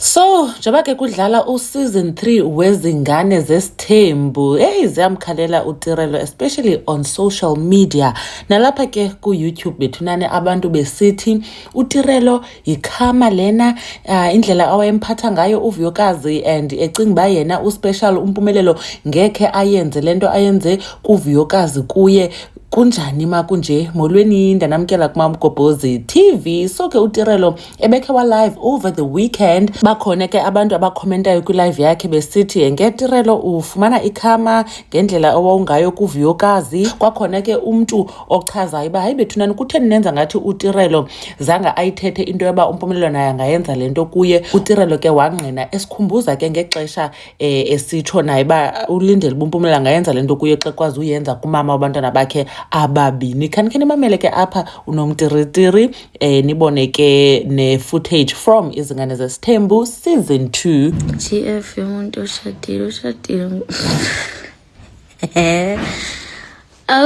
So njengoba ke kudlala useason 3 wezingane zesithembu hey ziyamkhalela uTirelo especially on social media nalapha ke ku YouTube bethu nani abantu besithi uTirelo yikhama lena uh, indlela awayemphatha ngayo uVuyokazi and ecinga ba yena uspecial umpumelelo ngekhe ayenze lento ayenze kuVuyokazi kuye kunjani ma kunje molweni ndanamkela kumamgobhozi TV so ke uTirelo ebekhe walive over the weekend bakhona ke abantu abakhomentayo kwilive yakhe besithi ngetirelo ufumana ikhama ngendlela owawungayo kuvuyokazi kwakhona ke umntu ochazayo uba hayi bethunani kutheni nenza ngathi utirelo zange ayithethe into yoba umpumelelo naye angayenza le nto kuye utirelo ke wangqina esikhumbuza ke ngexesha um eh, esitsho naye uba ulindele uba umpumelelo angayenza le nto kuye xa kwazi uyenza kumama wabantwana bakhe ababini khanikhe nimamele ke apha unomtiritiri eh nibone ke ne footage from izingane zesithembu season 2 GF yomuntu oshadile ushadile eh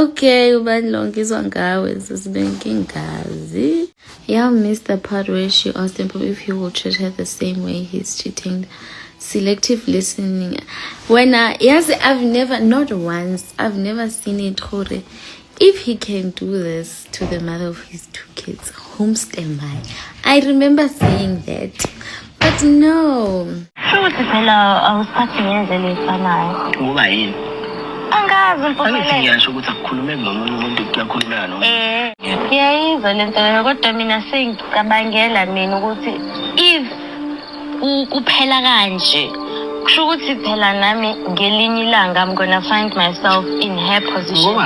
okay ubani lo ngizwa ngawe sesibenkingazi yeah miss the part where she asked him if he will treat her the same way he's cheating selective listening wena yazi i've never not once i've never seen it gore If he can do this to the mother of his two kids, whom stand by? I remember saying that, but no. Futhi phela awusiphathi ngendlela efanayo. Ngoba yini? Angazi Angithi mpumelelo. ngiyasho ukuthi akukhulumeki nomunye umuntu kuyakhulumeka nomuntu. Eh, ngiyayizwa le nto leyo kodwa mina sengicabangela mina ukuthi if kuphela kanje kusho ukuthi phela nami ngelinye ilanga i'm gonna find myself in her position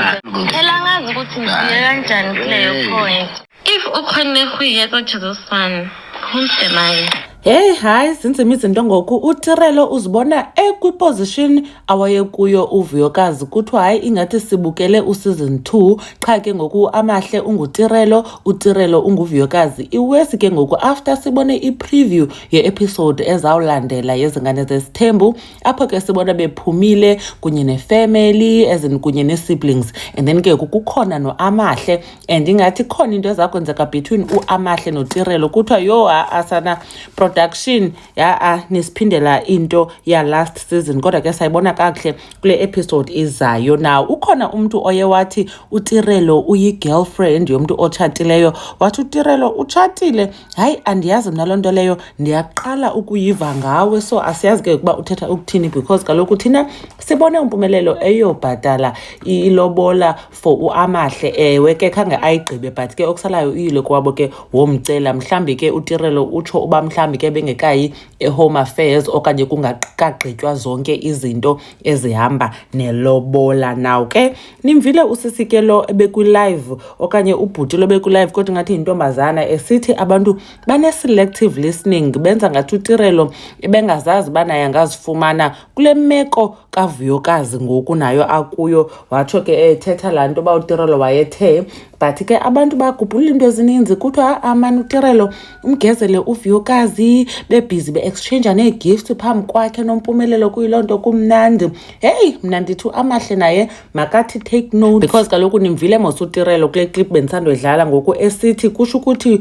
phela ngazi ukuthi ngifike kanjani kuleyo point if ukhona ehuyeka jezosana umsemane Hey hayi zinzima izinto ngoku uTirelo uzibona ekwiposition awayekuyo uvuyokazi kuthiwa hayi ingathi sibukele useason 2 qha ke ngoku amahle ungutirelo utirelo unguvuyokazi iwesi ke ngoku after sibone ipreview yeepisode ezawulandela yezingane zesithembu apho ke sibona bephumile kunye nefamily ezin kunye nee-siblings and then ke kukhona noamahle and ingathi khona into ezakwenzeka between uamahle notirelo kuthiwa yho asana production ya-a nisiphindela into ya-last season kodwa ke sayibona kakuhle kule episode izayo na ukhona umntu oye wathi utirelo uyi-girlfriend yomntu otshatileyo wathi utirelo utshatile hayi andiyazi mna loo nto leyo ndiyaqala ukuyiva ngawe so asiyazi ke ukuba uthetha ukuthini because kaloku thina sibone umpumelelo eyobhatala ilobola for uamahle ewe ke khange ayigqibe but ke okusalayo uyile kwabo ke womcela mhlawumbi ke utirelo utsho uba mhlawumbi ke bengekayi ehome affairs okanye kungakagqitywa zonke izinto ezihamba nelobola naw ke nimvile usisi ke lo ebekwi-live okanye ubhuti lo bekwi-live kodwa ingathi yintombazana esithi abantu bane-selective listening benza ngathi utirelo ebengazazi uba naye angazifumana kule meko kavuyokazi ngoku nayo akuyo watsho ke ethetha laa nto uba utirelo wayethe but ke abantu bagubhulula into ezininzi kuthiwa ha-a mani utirelo umgezele uvuyokazi bebhizi be-exchange nee-gift phambi kwakhe nompumelelo kuyiloo nto kumnandi heyi mna ndithi amahle naye makathi take note because kaloku nimvile mos utirelo kule clip bendisandoyidlala ngoku esithi kusho ukuthi